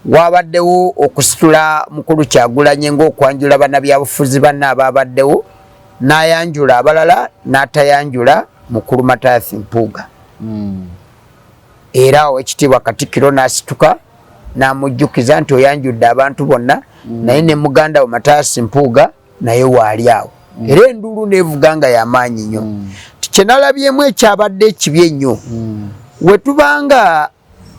Waabaddewo okusitula Mukulu Kyagulanyi ng'okwanjula bannabyabufuzi banne abaabaddewo n'ayanjula abalala n'atayanjula Mukulu Mathias Mpuuga hmm. era owekitiibwa Katikkiro n'asituka n'amujjukiza nti oyanjudde abantu bonna hmm. naye ne muganda we Mathias Mpuuga naye waali awo hmm. era enduulu neevuga nga yamaanyi nnyo kyenalabyemu ekyabadde ekibi ennyo wetubanga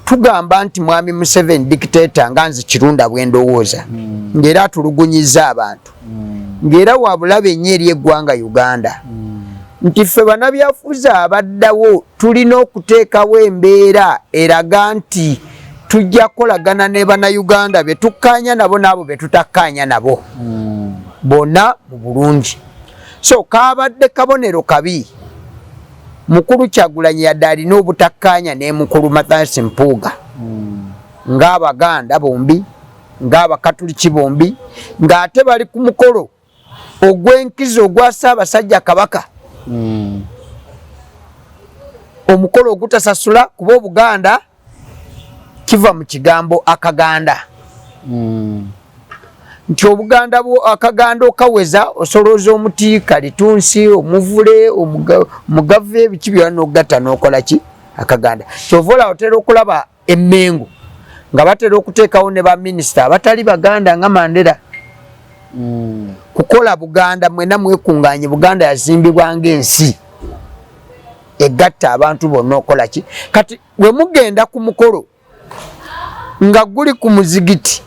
tugamba nti mwami museveni dictator nga nze kirunda bwendowooza mm. ngaera atulugunyiza abantu mm. ngaera wabulaba enyo eri eggwanga uganda mm. nti ffe banabyafuzi abaddawo tulina okuteekawo embeera eraga nti tujja kukolagana ne banauganda betukkaanya nabo naabo betutakkaanya nabo mm. bona mu bulungi so kabadde kabonero kabi mukulu kyagulanyi yadde alina obutakkaanya ne mukulu mathansi mpuuga hmm. ng'abaganda bombi ng'abakatuliki bombi ng'ate bali ku mukolo ogw'enkizo ogwa ssaabasajja kabaka hmm. omukolo ogutasasula kuba obuganda kiva mu kigambo akaganda mm. nti obuganda bwo akaganda okaweza osolooza omuti kalitunsi omuvule omugave ebiki byona nogatta nokola ki akaganda kyova olawo otera okulaba emengo nga batera okuteekawo ne baminisita abatali baganda nga mandera mm. kukola buganda mwena mwekunganye buganda yazimbibwa ngaensi egatta abantu bonna okola ki kati bwe mugenda ku mukolo nga guli ku muzigiti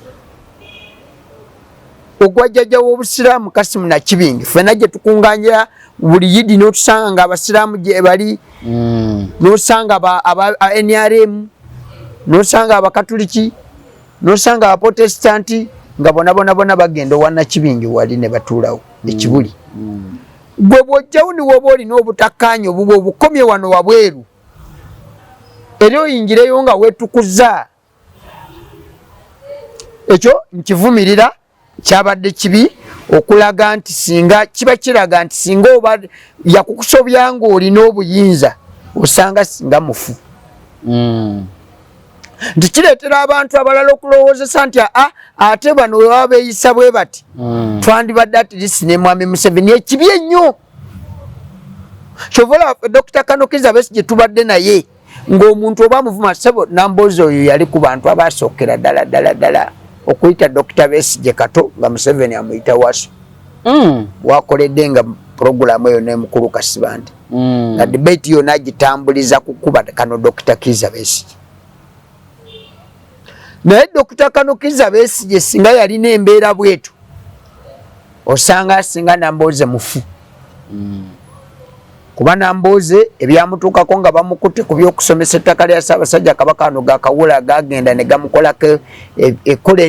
ogwa jjajja w'obusiraamu kasimu nakibingi ffena gye tukunganjira buli yidi n'otusanga nga abasiraamu gyebali hmm. n'osanga nrm n'osanga abakatuliki n'osanga abaprotestanti nga bonabonabona bagenda owa nakibingi wali ne batuulawo hmm. ekibuli hmm. gwe bwojjawo niwoba olina obutakkaanya obubwa obukomye wano wabweru era oyingireyo nga wetukuza ekyo nkivumirira kyabadde kibi okulaga nti singa kiba kiraga nti singa oba yakukusobya nga olina obuyinza osanga singa mufu mm. nti kireetera abantu abalala okulowoozesa nti aa ah, ate bano webaba beeyisa bwe bati hmm. twandibadde atirisi ne mwami museveni ekibi ennyo kyovola dokita kanokiza besi gye tubadde naye ng'omuntu oba muvuma sebo namboozi oyo yali ku bantu abaasookera ddala ddala ddala okuyita dokita besi gye kato nga museveni amuyita waso hmm. wakoledde nga puroguramu eyo nemukulu kasibante mm. nga debate yona agitambuliza kukuba kano dr kiza besigye naye dr kano kiza besigye singa yalina embeera bwetu osanga asinga nambooze mufu mm. kuba nambooze ebyamutuukako nga bamukutte ku byokusomesa ettaka lya saabasajja kabaka ano gakawula gagenda ne gamukolako e, e, ekkola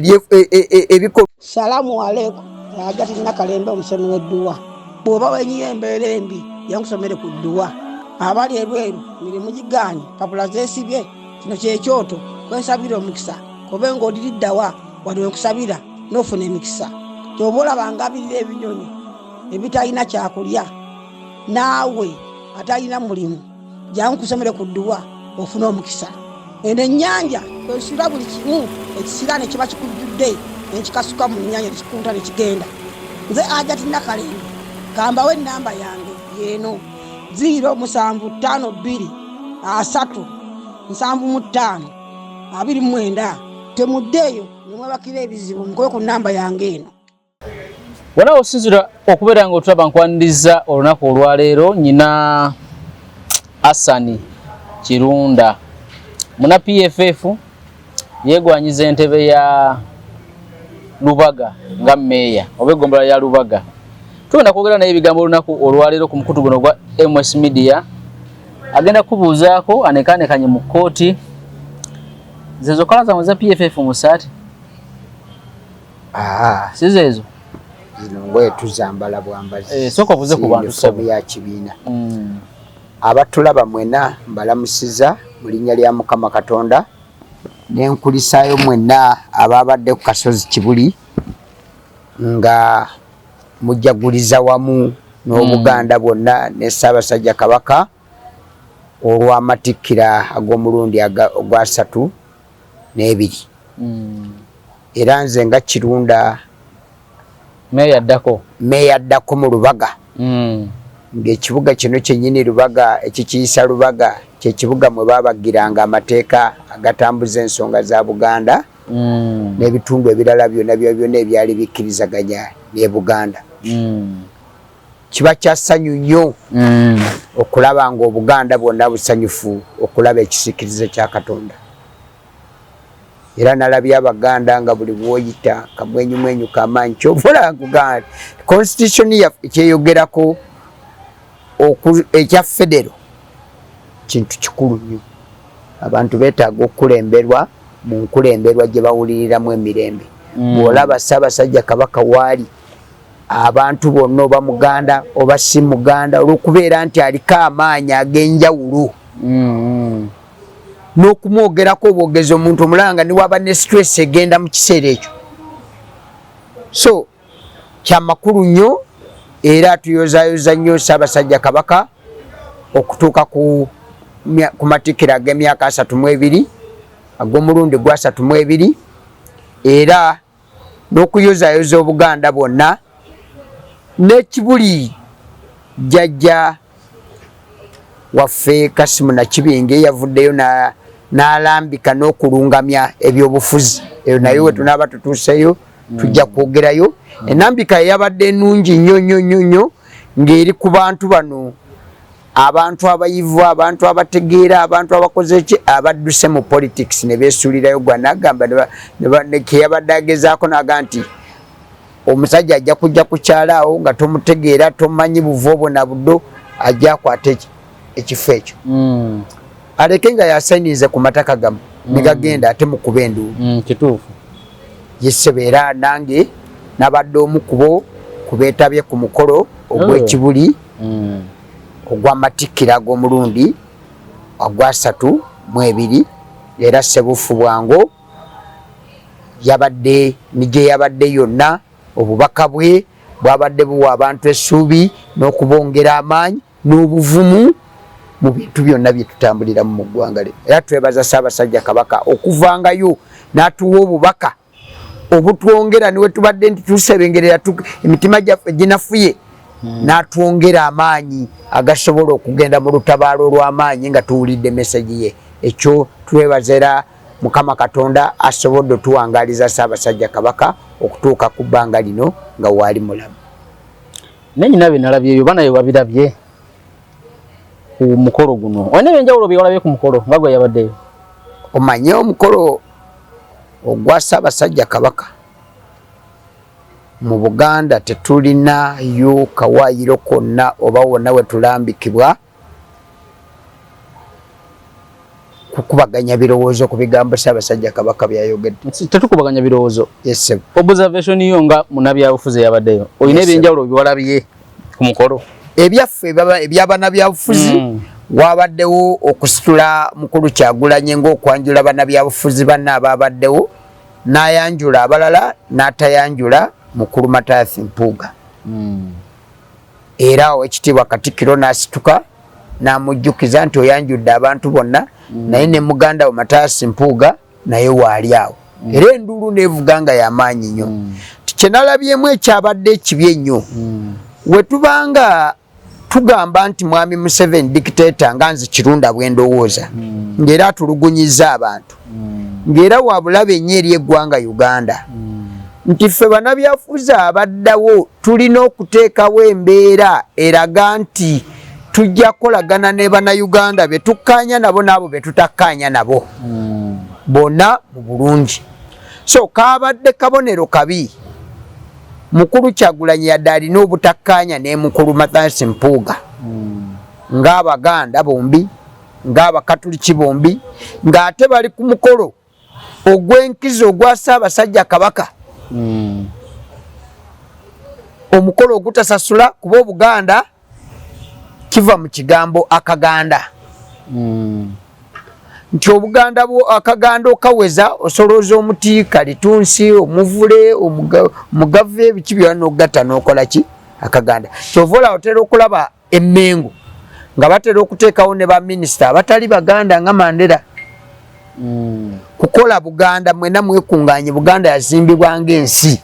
ebikolo salamu aleku agati nakalembe omusemi wedduwa bwoba wenyiyo embeera embi yankusomere ku dduwa abali ebweru mirimu gigaanyi papula zesibye kino kyekyoto kwensabira omukisa kobe ngaodiriddawa wali wenkusabira nofuna emikisa kyoba olaba ngabirira ebinyonyi ebitalina kyakulya naawe atalina mulimu jangu kusomere ku dduwa ofuna omukisa eno ennyanja kwesula buli kimu ekisira ne kiba kikujjudde nekikasuka mu nnyanja nekikunta ne kigenda nze ajati nakalembe kambawo ennamba yange yeeno ziiro musanvu ttaano bbiri asatu nsanvu mu ttaano abiri mu mwenda temuddeeyo ne mwebakira ebizibu mukole ku nnamba yange eno wona osinzira okubeera nga otulaba nkwaniriza olunaku olwaleero nyina asani kirunda muna pff yegwanyiza entebe ya lubaga nga meeya oba eggombolola ya lubaga tugenda kwogera naye ebigambo olunaku olwaleero ku mukutu guno ogwa ms media agenda kubuuzaako anekanekanye mu kkooti zezokola zamwe za pff musaati Ah, size ezo zino ngoye tuzambala bwambazi eh, soka obuze ku bantu sabu ya kibiina mm. abatulaba mwena mbalamusiza mu linnya lya mukama katonda nenkulisaayo mwena ababadde ku kasozi kibuli nga mujaguliza wamu n'obuganda mm. bwonna ne ssaabasajja kabaka olw'amatikkira ag'omulundi ogwasatu n'ebiri mm. era nze nga kirunda meeya addako meeya addako mu lubaga mm. ng'ekibuga kino kyennyini lubaga ekikiyisa lubaga kyekibuga mwe baabagiranga amateeka agatambuza ensonga za buganda mm. n'ebitundu ebirala byonna byona ebyali bikkirizaganya ne buganda mm. kiba kya ssanyu nnyo mm. okulaba ng'obuganda bwonna busanyufu okulaba ekisikirize kya katonda era nalabye abaganda nga buli bwoyita kamwenyumwenyu kamaanyi kyovola nkuganda constitution kyeyogerako ekya federo kintu kikulu nnyo abantu betaaga okukulemberwa mu nkulemberwa gye bawuliriramu emirembe mm. bw'olaba ssaabasajja kabaka waali mm. abantu bonna oba muganda oba si muganda olwokubeera nti aliko amaanyi agenjawulo mm-hmm. n'okumwogerako obwogezi omuntu omulanga niwaba ne stress egenda mu kiseera ekyo so kyamakulu nnyo era tuyozayoza nnyo ssaabasajja kabaka okutuuka ku matikkiro ag'emyaka asatu mu ebiri ag'omulundi gwasatu mu ebiri era n'okuyozayoza Obuganda bwonna ne Kibuli jjajja waffe Kasimu Nakibinge yavuddeyo n'alambika n'okulungamya ebyobufuzi eyo naye we tunaaba tutuuseyo tujja kwogerayo enambika yabadde ennungi nnyo nnyo nnyo nnyo ng'eri ku bantu bano abantu abayivu abantu abategeera abantu abakoze ki abadduse mu politics ne beesuulirayo gwa nagamba keyabadde agezaako naga nti omusajja ajja kujja kukyalaawo nga tomutegeera tomanyi buva obwo na buddo ajja akwata ekifo ekyo hmm. aleke nga yasainize ku mataka gamu hmm. negagenda ate mukuba enduulu hmm, kituufu yesebeera nange nabadde omukubo kubeetabye ku mukolo ogw'ekibuli mm. ogw'amatikkira ag'omulundi ogwasatu mu ebiri era ssebuufu bwango yabadde ni gye yabadde yonna obubaka bwe bwabadde buwa abantu essuubi n'okubongera amaanyi n'obuvumu mu bintu byonna bye tutambuliramu mu ggwanga lino era twebaza ssaabasajja kabaka okuvangayo n'atuwa obubaka obutwongera niwe tubadde nti tusebengerera emitima gyaffe ginafuye hmm. natwongera amaanyi agasobola okugenda mu lutabaalo olw'amaanyi nga tuwulidde mesegi ye ekyo twebazera mukama katonda asobodde otuwangaliza ssaabasajja kabaka okutuuka ku bbanga lino nga waali mulamu nanyina bye nalabyeyo banaye wabirabye ku mukolo guno olina ebyenjawulo byewalabye ku mukolo nga gwe yabaddeyo omanye omukolo ogwa ssaabasajja kabaka mu buganda tetulinayo kawayiro konna oba wonna wetulambikibwa kukubaganya birowoozo ku bigambo Ssaabasajja Kabaka byayogedde. Tetukubaganya birowoozo. Yes, sir. Observation yo nga munabyabufuzi yabaddeyo. Olina yes, ebyenjawulo biwalabye ku mukolo. Ebyaffe baba ebyabanabyabufuzi mm. wabaddewo okusitula mukulu Kyagulanye ng'okwanjula banabyabufuzi banne abaabaddewo n'ayanjula abalala n'atayanjula mukulu Matayasi Mpuuga. Mm. Era owekitiibwa Katikkiro n'asituka. namujjukiza nti oyanjudde abantu bonna mm. naye ne muganda wo mataasi mpuuga naye waali awo mm. era enduulu nevuga nga yamaanyi nnyo mm. kyenalabyemu ekyabadde ekibi ennyo mm. wetubanga tugamba nti mwami museveni dictator nga nze kirunda bwendowooza mm. ngaera atulugunyiza abantu mm. ngaera wabulabe nnyo eri eggwanga uganda mm. nti ffe banabyafuzi abaddawo tulina okuteekawo embeera eraga nti tujja kukolagana ne bannayuganda be tukkaanya nabo n'abo be tutakkaanya nabo hmm. bona mu bulungi so kaabadde kabonero kabi mukulu kyagulanyi yadde alina obutakkaanya ne mukulu mathans mpuuga hmm. ng'abaganda bombi ng'abakatuliki bombi ng'ate bali ku mukolo ogw'enkizo ogwa Ssaabasajja Kabaka hmm. omukolo ogutasasula kuba Obuganda kiva mu kigambo akaganda hmm. nti obuganda bwo akaganda okaweza osolooza omuti kalitunsi omuvule omugave ebiki byona nogata nokola ki akaganda kyova olawo otera okulaba emengo nga batera okuteekawo ne baminisita abatali baganda nga mandera hmm. kukola buganda mwena mwekunganye buganda yazimbibwa ngaensi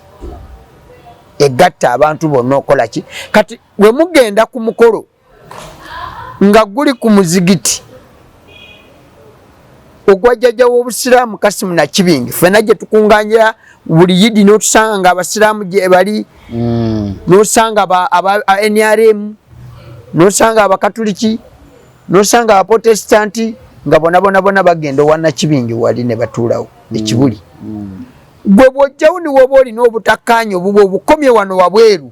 egatta abantu bonna okola ki kati wemugenda ku mukolo nga guli ku muzigiti ogwa jjajja w'obusiraamu kasimu nakibingi fena gye tukunganjira buli yidi n'otusanga nga abasiraamu gyebali mm. n'osanga nrm n'osanga abakatuliki n'osanga abaprotestanti nga bonabonabona bagenda owa nakibingi wali ne batuulawo mm. ekibuli mm. gwe bwojjawo niwoba olina obutakkaanya obuba obukomye wano wabweru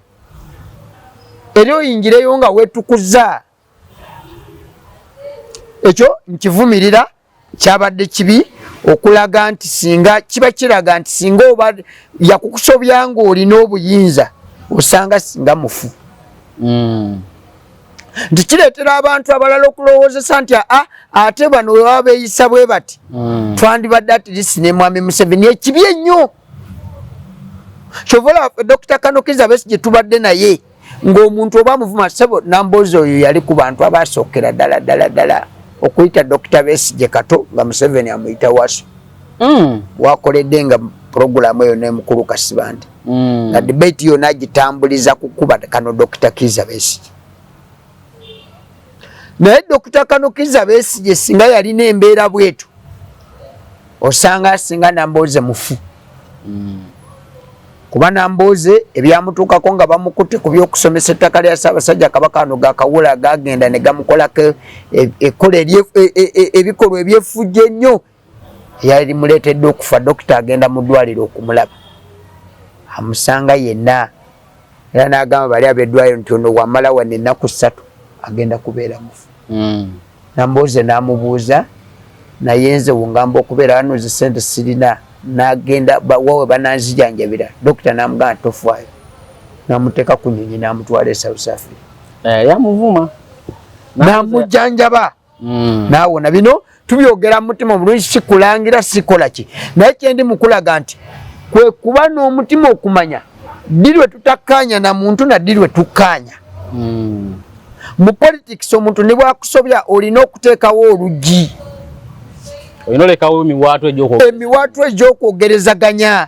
era oyingireyo nga wetukuza ekyo nkivumirira kyabadde kibi okulaga nti singa kiba kiraga nti singa oba yakukusobya nga olina obuyinza osanga singa mufu hmm. nti kireetera abantu abalala okulowoozesa nti aa ate bano webaba beeyisa bwe bati hmm. twandibadde atirisi ne mwami museveni ekibi ennyo kyovola dokita kanokiza besi gye tubadde naye ng'omuntu oba muvuma sebo nambozi oyo yali ku bantu abaasookera ddala ddala ddala okuyita dokita besigye kato nga museveni amuyita waso mm. wakoledde nga puroguramu eyo nemukulu kasibante mm. nga debate yona agitambuliza kukuba kano dokita kiza besigye naye dokita kano kiza besigye singa yalina embeera bwetu osanga asinga namboze mufu mm. kuba nambuuzi ebyamutuukako nga bamukutte ku byokusomesa ettaka lya ssaabasajja kabaka ano gakawula gagenda ne gamukolako e, ekkola e, e, ebikolwa ebyefujja ennyo yali muleetedde okufa dokita agenda mu ddwaliro okumulaba amusanga yenna era nagamba bali abedwayo nti ono wamala wano ennaku ssatu agenda kubeera mufu hmm. nambooze namubuuza naye nze wungamba okubeera wano nze sente sirina nagenda wawe bananzijanjabira dokita namugamba tofwayo namuteeka ku nyonyi namutwala e south africa eh, yamuvuma namujanjaba mm. naawo na bino tubyogera mu mutima omulungi sikulangira sikola ki naye kyendi mukulaga nti kwe kuba n'omutima okumanya ddi lwe tutakkaanya na muntu na ddi lwe tukkaanya mm. mu politics omuntu ne bwakusobya olina okuteekawo oluggi olina olekawo emiwaatu egyemiwaatu egyokwogerezaganya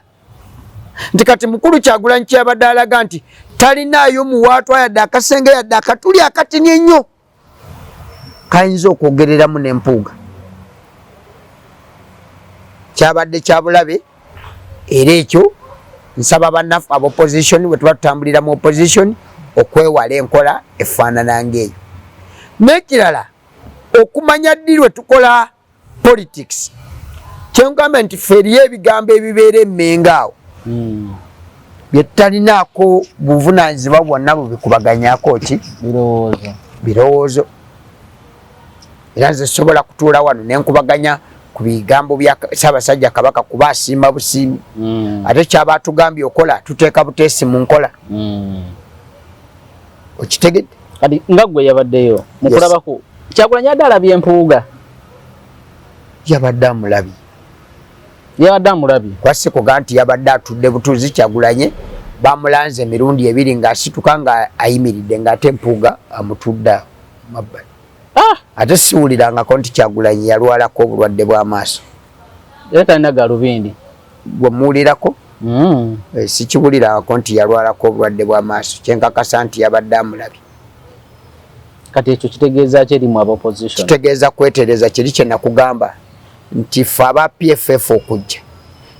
nti kati mukulu kyagulanyi kyabadde alaga nti talinaayo muwaatu ayadde akasenge yadde akatuli akatini ennyo kayinza okwogereramu nempuuga kyabadde kyabulabe era ekyo nsaba banaffe aba opposition bwetuba tutambulira mu opposition okwewala enkola efaanana ngaeyo nekirala okumanya ddi lwetukola politics kyengamba nti fe eriyo ebigambo ebibeera emmenga awo hmm. byetutalinaako buvunanyizibwa bwonna bubikubaganyako ki birowoozo era nze sobola kutuula wano nenkubaganya ku bigambo bya ssaabasajja kabaka kuba asiima busiimi hmm. ate kyaba atugambye okola tuteeka buteesi mu nkola hmm. okitegedde kati nga gwe yabaddeyo mukulabako yes. kyagulanyi adde alabye empuuga yabadde amulabye yabadde amulabye kwasikuga nti yabadde atudde butuuzi kyagulanye bamulanze emirundi ebiri ngaasituka nga ayimiridde ngaate empuuga amutudde mabbali ah! ate siwulirangako nti kyagulanye yalwalako obulwadde bw'amaaso era talina galubindi gwe muwulirako mm. eh, sikiwulirako nti yalwalako obulwadde bw'amaaso kyenkakasa nti yabadde amulabye kati ekyo kitegeeza ki erimu abaopposition kitegeeza kwetereza kiri kye nakugamba nti ffe aba pff okujja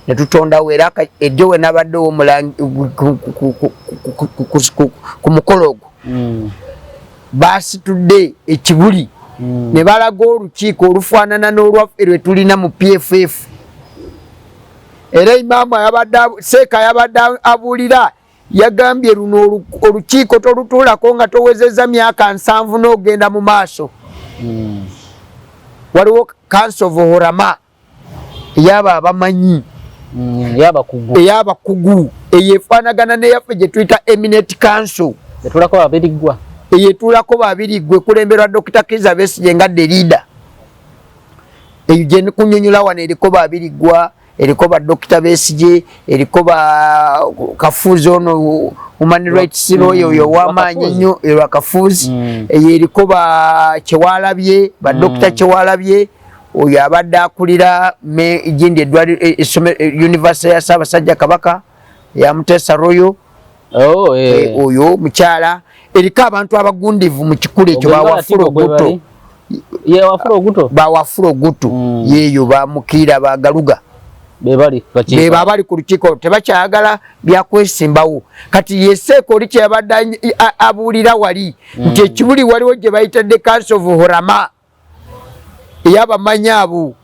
ne tutondawo era ejjo we nabadde owomulangi ku mukolo ogwo mm. baasitudde ekibuli hmm. ne balaga olukiiko olufaanana n'olwaffe lwe tulina mu pff era imaamu seeka yabadde abuulira yagambye luno olukiiko tolutuulako nga towezeza myaka nsanvu n'ogenda mu maaso hmm. waliwo kansovohorama eyaba abamanyi mm, eyabakugu eyo efaanagana neyaffe gye tuyita eminate council etulako babiriggwa eyo etulako babiriggwa ekulemberwa dokita kiza besigye nga de leader eyo gyenikunyonyola wano eriko babiriggwa eriko ba dokita besigye eriko ba kafuuzi ono human rights lawyer oyo mm. owamaanyi ennyo erwa kafuuzi mm. eyo eriko ba kyewalabye ba dokita mm. kyewalabye oyo abadde akulira jindi edwaliro e, e, univesity ya ssaabasajja kabaka yamuteesa royo oh, eh. Eh, oyo mukyala eriko abantu abagundivu mu kikula ekyo bawafula oguto bawafula ogutu hmm. yeeyo bamukiira bagaluga bebo abali ku lukiiko tebakyayagala byakwesimbawo kati yeseeka oli kyeyabadde abuulira wali hmm. nti ekibuli waliwo gye bayitadde kansi of horama eyabamanyi abo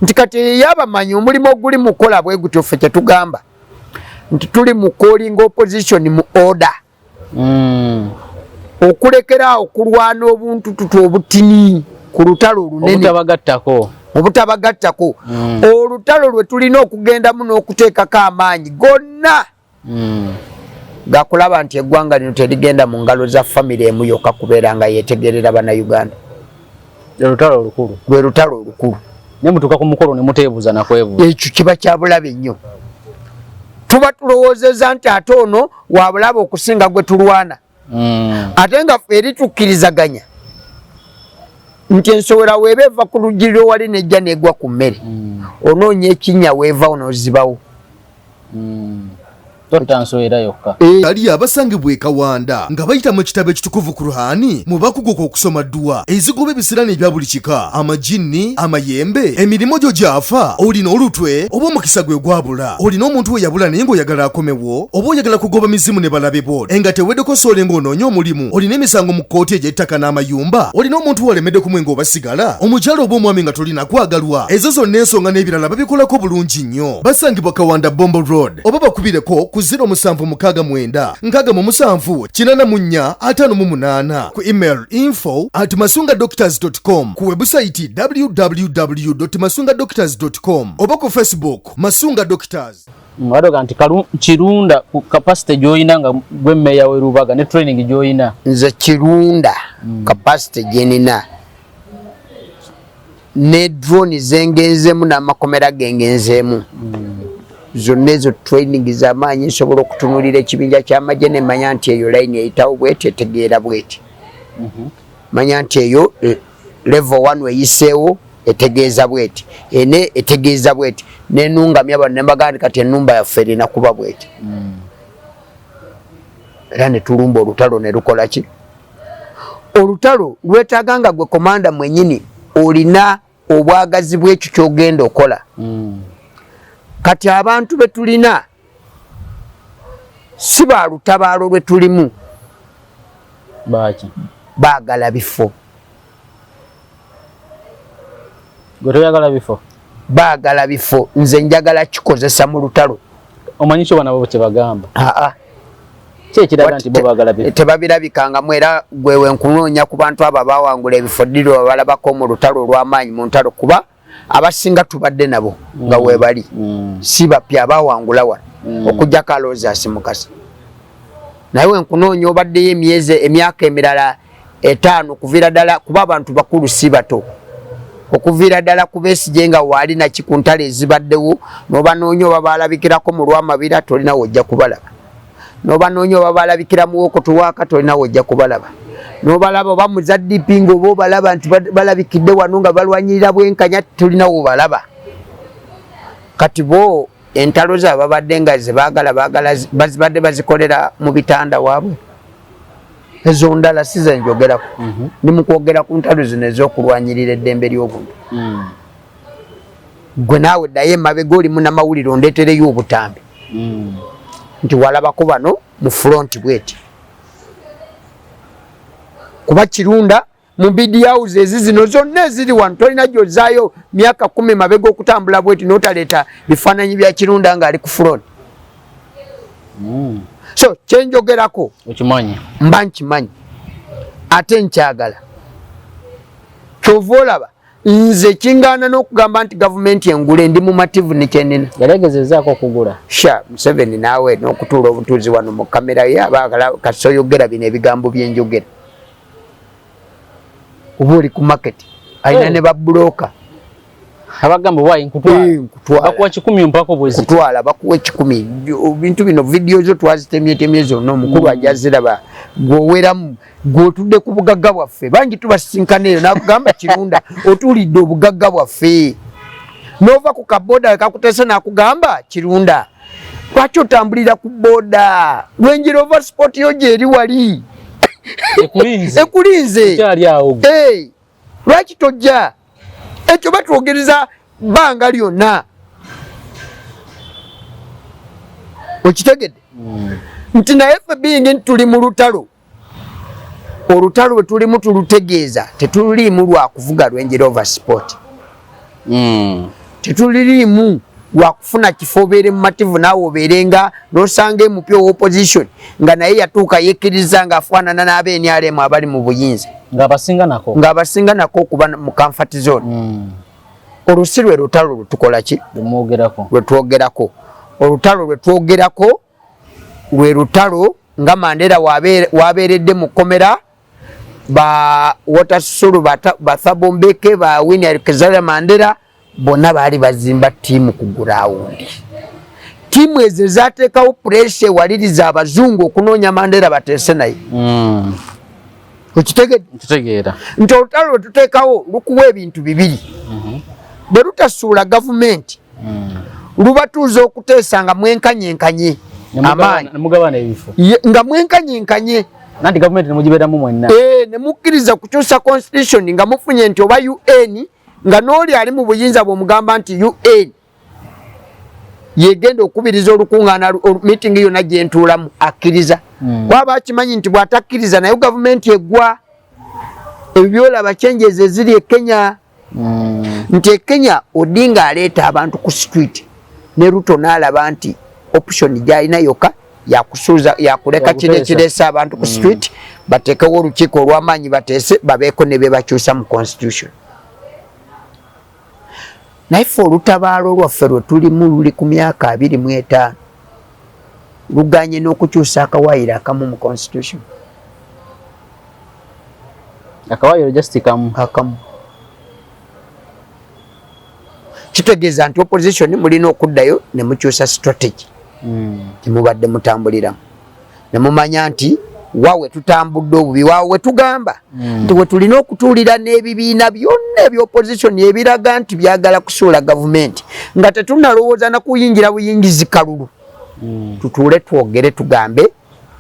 nti kati eyabamanyi omulimu oguli mukola bwe gutyo ffe kyetugamba nti tuli mu calling opposition mu order mm. okulekera okulwana obuntu tutu obutini ku lutalo olunene obutabagattako mm. olutalo lwe tulina okugendamu n'okuteekako amaanyi gonna hmm. gakulaba nti eggwanga lino terigenda mu ngalo za famire emu yokka kubeera nga yetegerera banauganda lwe lutalo olukulu lwe lutalo olukulu ne mutuuka ku mukolo ne muteebuuza nakwebuuza ekyo kiba kya bulabe nnyo tuba tulowoozeza nti ate ono wabulabe okusinga gwe tulwana mm. ate nga eri tukkirizaganya nti ensowera weeba eva ku luggi lwewali nejja negwa ku mmere mm. onoonya ekinya weevawo nozibawo mm. eh. ali abasangibwa ekawanda nga bayita mu kitabo ekitukuvu kuruhani mu bakuguka okusoma dduwa ezigoba ebisirani ebya buli kika amajinni amayembe emirimu gyo gyafa olina olutwe oba omukisa gwe gwabula olina omuntu we yabula naye ng'oyagala akomewo wo oba oyagala kugoba mizimu ne balabe bo enga tewedeko sole ng'onoonya omulimu olina emisango mu kkooti egy'ettaka n'amayumba olina omuntu walemedde ku mwenge oba sigala omukyala oba omwami nga tolina kwagalwa ezo zonna ensonga n'ebirala babikolako bulungi nnyo basangibwa kawanda bombo road oba bakubireko ku 0 musanvu mukaaga mwenda nkaaga mu musanvu kinana mu nnya ataano mu munaana ku email info at masunga doctors com ku webusayiti www masunga doctors com oba ku facebook masunga doctors Mwadoga nti kalu kirunda ku capacity joyina nga gwe meya we rubaga ne training joyina. Nze kirunda mm. capacity jenina. Ne drone zengenzemu na makomera gengenzemu. Mm. Zonezo training za manyi sobola okutunulira ekibinja kya majene manyanti eyo line eyitawo bwete tegeera bwete. Mhm. Mm manya nti eyo eh, levo wanu eyiseewo etegeeza bweti ene etegeeza bweti nenungamya bano nembagaa nti kati enumba yaffe erina kuba bweti mm. era netulumba olutalo nelukola ki olutalo lwetaaga nga gwe komanda mwenyini olina obwagazi bwekyo kyogenda okola mm. kati abantu betulina si ba lutabaalo lwe tulimu baagala bifo gwe toyagala bifo baagala bifo nze njagala kikozesa mu lutalo omanyi kyo banabo kyebagamba aa kyekiraga nti bobagala bifo tebabirabikangamu era gwewe nkunoonya ku bantu abo abawangula ebifo ddirwa balabako mu lutalo olw'amaanyi mu ntalo kuba abasinga tubadde nabo nga mm. webali mm. si bapya abawangula wano mm. okujjako alowooza asimukasa naye wenkunoonya obaddeyo emyezi emyaka emirala etaano okuviira ddala kuba abantu bakulu si bato okuviira ddala kubesigye nga waali naki ku ntalo ezibaddewo nobanoonya oba baalabikirako mu lwamabira tolinawo ojja kubalaba nobanoonya oba balabikira muwokoto wakatole nawe ojja kubalaba nobalaba oba muzadp nga oba obalaba nti balabikidde wano nga balwanyirira bwenkanya tulinawo obalaba kati bo entalo za babadde nga zebagala bagala bazibadde bazikolera mu bitanda waabwe ezo ndala si zenjogerako mhm. ndi mukwogera ku ntalo zino ezokulwanyirira eddembe ly'obuntu mm. gwe naawe ddayo emabega olimu namawulire ondetereyo obutambi mm. nti walabako bano mu front bweti kuba kirunda mu bidiauze ezi zino zonna eziri wano tolina gyozaayo myaka kumi mabega okutambula bweti notaleeta bifaananyi bya kirunda ngaali ku front mm. so kyenjogerako mba nkimanyi ate nkyagala kyova olaba nze kingana nokugamba nti gavumenti engule ndi mumativu nikyenina yalegezezaako okugula sha museveni naawe nokutuula obutuuzi wano mu kamera ye abakala kasi oyogera bino ebigambo byenjogera oba oli ku maketi alina eh. ne babuloka abagamba owaye nkutwalabakuwa eh, kikumi mpako bwezikutwala bakuwa ekikumi bintu bino vidiyo zo twazitemyetemye zonna omukulu hmm. ajaziraba gwoweramu gwe otudde ku bugagga bwaffe bangi tubasisinkana eyo nakugamba kirunda otuulidde obugagga bwaffe nova ku kaboda wekakuteese nakugamba kirunda lwaki otambulira ku boda wenjira ova sport yo gyeri wali ekulinze lwaki tojja ekyo batwogereza bbanga lyonna okitegedde hmm. nti naye fe bingi nti tuli mu lutalo olutalo lwetulimu tulutegeeza tetuliimu lwakuvuga lwenjera over sport mm. tetuliriimu wakufuna kifo obeere mumativu naawe obeere nga nosanga emupya owa opposition nga naye yatuuka yekkiriza nga afaanana n'abeenyalemu abali mu buyinza ng'abasinga nako okuba mu kamfati zone mm. olusi lwe lutalo lwetukola ki lwetwogerako olutalo lwetwogerako lwe lutalo nga mandera wabeeredde mu kkomera ba watersulu bathabombeke ba winiar kizara mandera bonna baali bazimba tiimu ku gurawundi tiimu ezo ezateekawo puresha ewaliriza abazungu okunoonya mandera bateese naye hmm. okitegeera nti olutalo lwe tuteekawo lukuwa ebintu bibiri mhm. bwe lutasuula gavumenti mm. lubatuuza okuteesa nga mwenkanyenkanye amaanyi nga mwenkanyenkanye nanti gavumenti nemugiberamu mwenna eh, nemukkiriza kukyusa constitution nga mufunye nti oba un nga n'oli ali mu buyinza bwemugamba nti un yegenda okubiriza olukuŋŋaana miitingi yonna gye ntuulamu akkiriza hmm. kwaba akimanyi nti bw'atakkiriza nayo gavumenti eggwa ebyo byolaba kyenjeeza eziri e kenya mm. nti ekenya odinga aleeta abantu ku street ne ruto naalaba nti option gyalina yoka yakusuuza yakuleka kino ekireese abantu ku mm. street bateekewo olukiiko olw'amaanyi bateese babeeko ne bebakyusa mu constitution naye fe olutabaalo lwaffe lwe tulimu luli ku myaka abiri mu etaano luganye n'okukyusa akawaayiro akamu mu constitution akawaayiro just kamu akamu kitegeeza nti opposition mulina okuddayo ne mukyusa strategy gyemubadde hmm. mutambuliramu ne mumanya nti wawe tutambudde obubi wawe wetugamba hmm. nti wetulina okutuulira n'ebibiina byonna ebyopozisoni ebiraga nti byagala kusuula gavumenti nga tetunalowooza nakuyingira buyingizi kalulu hmm. tutuule twogere tugambe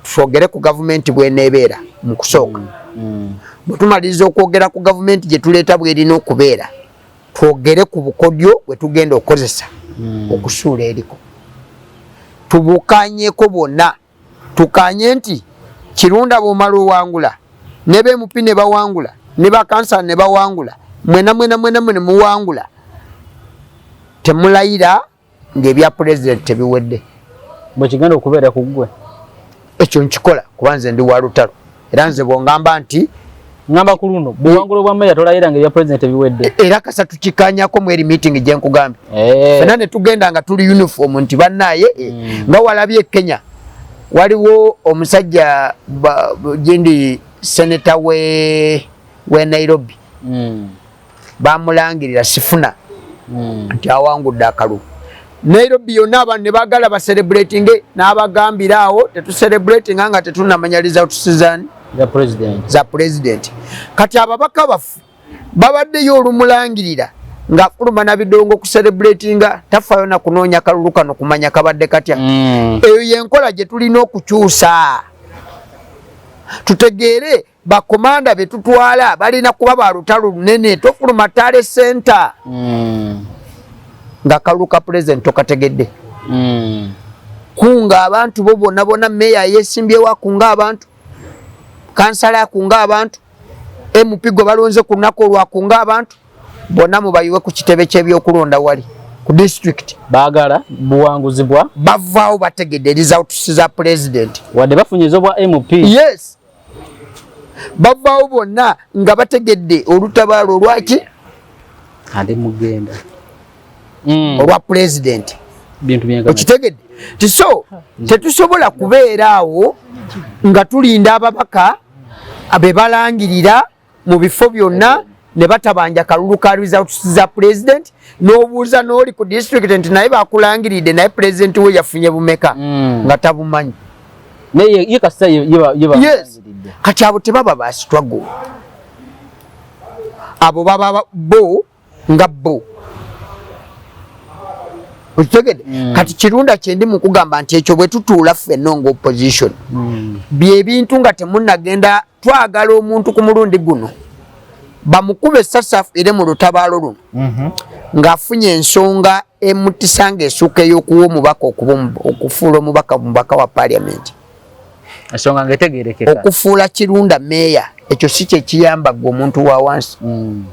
twogere ku gavumenti bweneebeera mu kusooka hmm. bwe tumaliriza okwogera ku gavumenti gye tuleeta bwerina okubeera twogere ku bukodyo bwe tugenda okukozesa okusuula eriko tubukanyeko bwonna tukanye nti kirunda bwomala owangula ne bmp ne bawangula ne bakansala ne bawangula mwena mwena mwena mwene muwangula temulayira ngaebya pulezidenti tebiwedde bwekigenda okubeera ku ggwe ekyo nkikola kuba nze ndi wa lutalo era nze bwongamba nti ngamba ku luno buwangulo bwa meya tolaira ngeri ya president ebiwedde e, era kasatu kikanyako mu eri meeting gye nkugambye eh. fena ne tugenda nga tuli uniform nti bannaye eh, hmm. nga walabye kenya waliwo omusajja gyendi seneta we we nairobi mm. bamulangirira sifuna hmm. nti awangudde akalulu nairobi yonna abantu ne bagala baserebulatinge n'abagambira awo tetuserebulatinga nga tetunamanya lizautusizani za pulezidenti kati ababaka baffe babaddeyo olumulangirira ng'afuluma na bidongo kuserebulatinga tafayo na kunoonya kalulu kano kumanya kabadde katya hmm. eyo yenkola gye tulina okukyusa tutegeere bakomanda betutwala balina kuba ba lutalo lunene tofuluma tale center mm. nga kalulu ka pulezidenti tokategedde mm. kunga abantu bo bona bona meya yesimbyewo akunga abantu kansala akunga abantu mp gwe balonze ku lunaku olwakunga abantu bona mubayiwe ku kitebe kyebyokulonda wali ku district bagala buwanguzi bwa bavaawo bategedde results za pulezidenti wadde bafunye ezobwa mp yes bavaawo bonna nga bategedde olutabaalo olwaki ade mugenda mm. olwa pulezidenti okitegedde tiso tetusobola kubeera awo nga tulinda ababaka be balangirira mu bifo byonna ne batabanja kalulu ka results za president n'obuuza n'oli ku district nti naye bakulangiridde naye president we yafunye bumeka mm. nga tabumanyi kati abo tebaba ba struggle abo baba bo nga bo okitegede mm. kati kirunda kyendi mukugamba nti ekyo bwetutuula ffenna nga opposition mm. byebintu nga temunagenda twagala omuntu ku mulundi guno bamukube sasafu ere mu lutabaalo luno mm -hmm. ng'afunye ensonga emutisa nga esuuka ey'okuwa omubaka okuba okufuula omubaka mubaka wa parliament ensonga nga etegerekeka okufuula kirunda meeya ekyo si kyekiyamba gwe omuntu wa wansi hmm.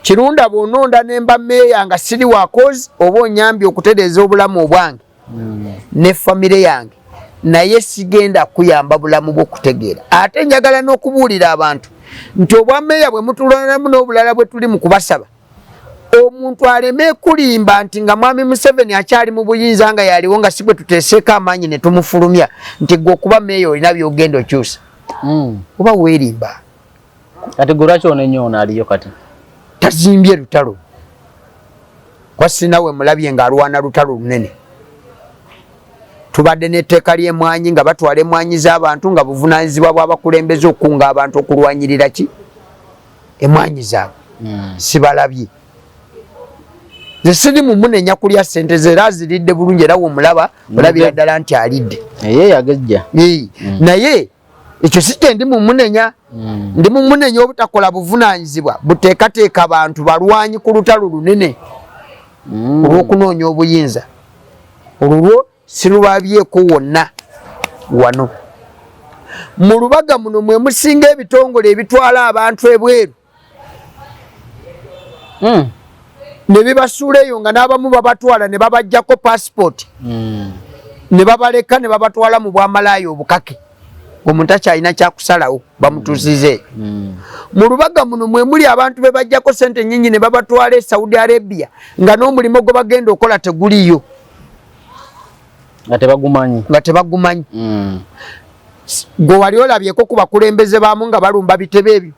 kirunda bwononda nemba meeya nga siri wakozi oba onyambye okutereeza obulamu obwange hmm. ne famire yange naye sigenda kuyamba bulamu bwokutegeera ate njagala n'okubuulira abantu nti obwameeya bwe mutuloneramu n'obulala bwe tuli mu kubasaba omuntu aleme kulimba nti nga mwami museveni akyali mu buyinza nga yaliwo nga sigwe tuteseeko amaanyi ne tumufulumya nti gwe okuba meeya olina byogenda okyusa hmm. oba weerimba kati gwe lwaki onenyo ono aliyo kati tazimbye lutalo kwasinawe mulabye nga alwana lutalo lunene tubadde n'etteeka ly'emwanyi nga batwala emwanyi z'abantu nga buvunaanyizibwa bw'abakulembeze okukunga abantu okulwanyirira ki emwanyi zaabwe hmm. sibalabye nze siri mumunenya kulya sente ze era aziridde bulungi era womulaba olabira ddala nti alidde hmm. naye ekyo si kye ndi mumunenya hmm. ndi mumunenya obutakola buvunaanyizibwa buteekateeka bantu balwanyi ku lutalo lunene olwokunoonya obuyinza olulwo silubabyeko wonna wano mu lubaga muno mwe musinga ebitongole ebitwala abantu ebweru hmm. ne bibasuula eyo nga n'abamu babatwala ne babajjako pasipooti hmm. ne babaleka ne babatwala mu bwamalaaya obukake omuntu akyalina kyakusalawo bamutuzize hmm. mu lubaga muno mwe muli abantu be bajjako sente nyingi ne babatwala e saudi arabia nga n'omulimu gwe bagenda okola teguliyo nga tebagumanyi nga tebagumanyi mm. gwe wali olabyeko ku bakulembeze baamu nga balumba bitebe ebyo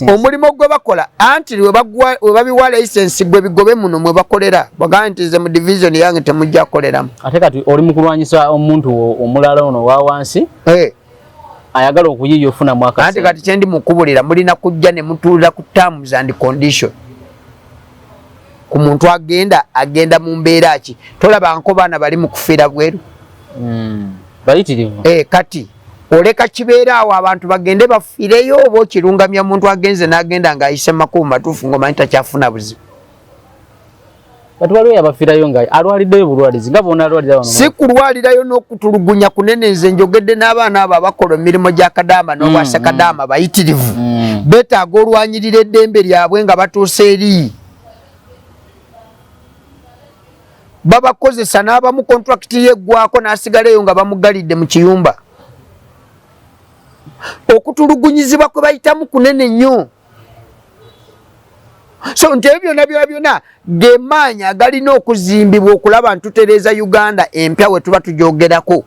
omulimu gwe bakola anti webabiwa licensi gwe bigobe muno mwe bakolera bagaa nti ze mu divisioni yange temujja koleramu ate kati oli mukulwanyisa omuntu omulala ono wawansi eh. ayagala okuyiiya ofuna mwaka anti kati kyendi mukubulira mulina kujja ne mutuulira ku terms and condition ku muntu agenda agenda mu mbeera ki tolaba nko baana bali mu kufiira bweru hmm. bayitirivu eh, kati oleka kibeera awo abantu bagende bafireyo oba okirungamya muntu agenze n'agenda ng'ayise makubu matuufu ng'omanyi takyafuna buzibu Bati waliwo yabafirayo nga alwaliddeyo bulwalizi nga bona alwalira wano. Si kulwalirayo n'okutulugunya kunene nze njogedde n'abaana abo abakola emirimu gya kadaama n'obwasa mm, mm. kadaama bayitirivu. Mm. Betaaga olwanyirira eddembe lyabwe nga batuusa eri. Babakozesa n'abamu kontrakiti ye eggwako n'asigala eyo nga bamugalidde mu kiyumba. Okutulugunyizibwa kwe bayitamu kunene nnyo. so nti ebyo byona byona byona gemaanyi agalina okuzimbibwa okulaba ntutereeza uganda empya wetuba tujogerako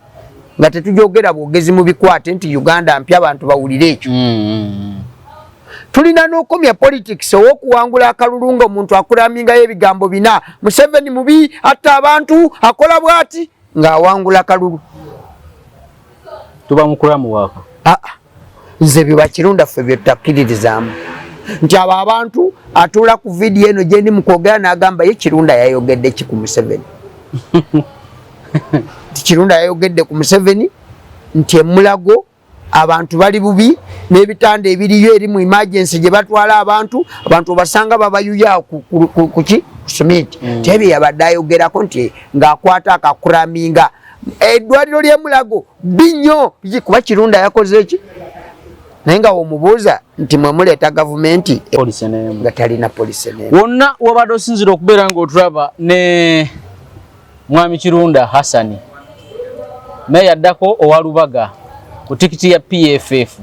nga tetujogera bwogezi mu bikwate nti uganda mpya abantu bawulire ekyo mm-hmm. tulina nokomya politics owokuwangula akalulu nga omuntu akuramingayo ebigambo bina museveni mubi atta abantu akola bwati nga awangula kalulu tuba mukulamu wako ah, ah. nze byebakirunda ffe byetutakiririzaamu nti abo abantu atuula ku vidiyo eno gyendi mukwogera nagamba ye kirunda yayogedde ki ku museveni nti kirunda yayogedde ku museveni nti emulago abantu bali bubi n'ebitanda ebiriyo eri mu emergency gye batwala abantu abantu obasanga babayuya kuki ku suminti mm. tebye yabadde ayogerako nti ng'akwata akakuraminga eddwaliro ly'emulago binyo kuba kirunda yakoze ki naye nga womubuuza nti mwe muleeta gavumenti nga talina polisi wonna wabadde osinzira okubeera ng'otulaba ne Mwami Kirunda Hassani naye yaddako owa Lubaga ku tikiti ya PFF.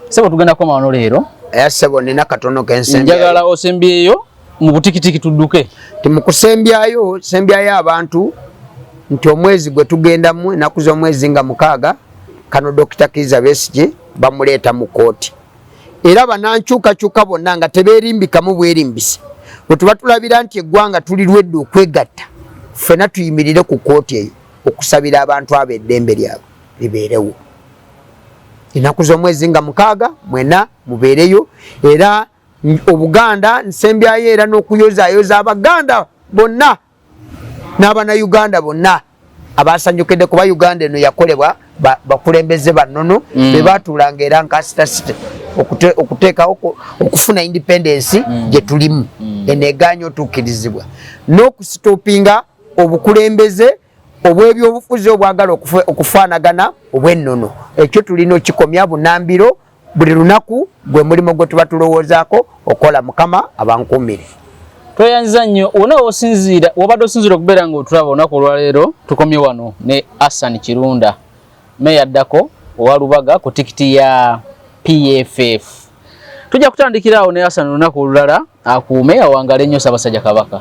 Sebo tugenda koma wano leero. Eya eh, sebo nina katono kensembi. Njagala osembyeyo mu butikitiki tudduke. Timukusembyayo sembyayo abantu nti omwezi gwe tugendamu enaku z'omwezi nga mukaaga kano Dokita Kiza Besigye bamuleeta mu kkooti. era banankyukakyuka bonna nga tebeerimbikamu bwerimbisi wetuba tulabira nti eggwanga tuli lwedde okwegatta ffena tuyimirire ku kooti eyo okusabira abantu abo eddembe lyabwe libeerewo enaku z'omwezi nga mukaaga mwena mubeereyo era obuganda nsembyayo era n'okuyozayoza abaganda bonna n'abana uganda bonna abasanyukidde kuba uganda eno yakolebwa bakulembeze banono mm. bebatuulanga era nkasitasite okuteekawo okufuna independence mm. gyetulimu mm. eno eganya otuukirizibwa n'okusitopinga obukulembeze obwebyobufuzi obwagala okufaanagana obwennono ekyo tulina okikomya bunambiro buli lunaku gwe mulimu gwe tuba tulowoozaako okola mukama abankuumire tweyanziza nnyo wona wosinziira wobadde osinziira okubeera nga otulaba olunaku olwaleero tukomye wano ne assan kirunda meya addako owa lubaga ku tikiti ya pff tujja kutandikiraawo ne assan olunaku olulala akuume awangale nnyo sabasajja kabaka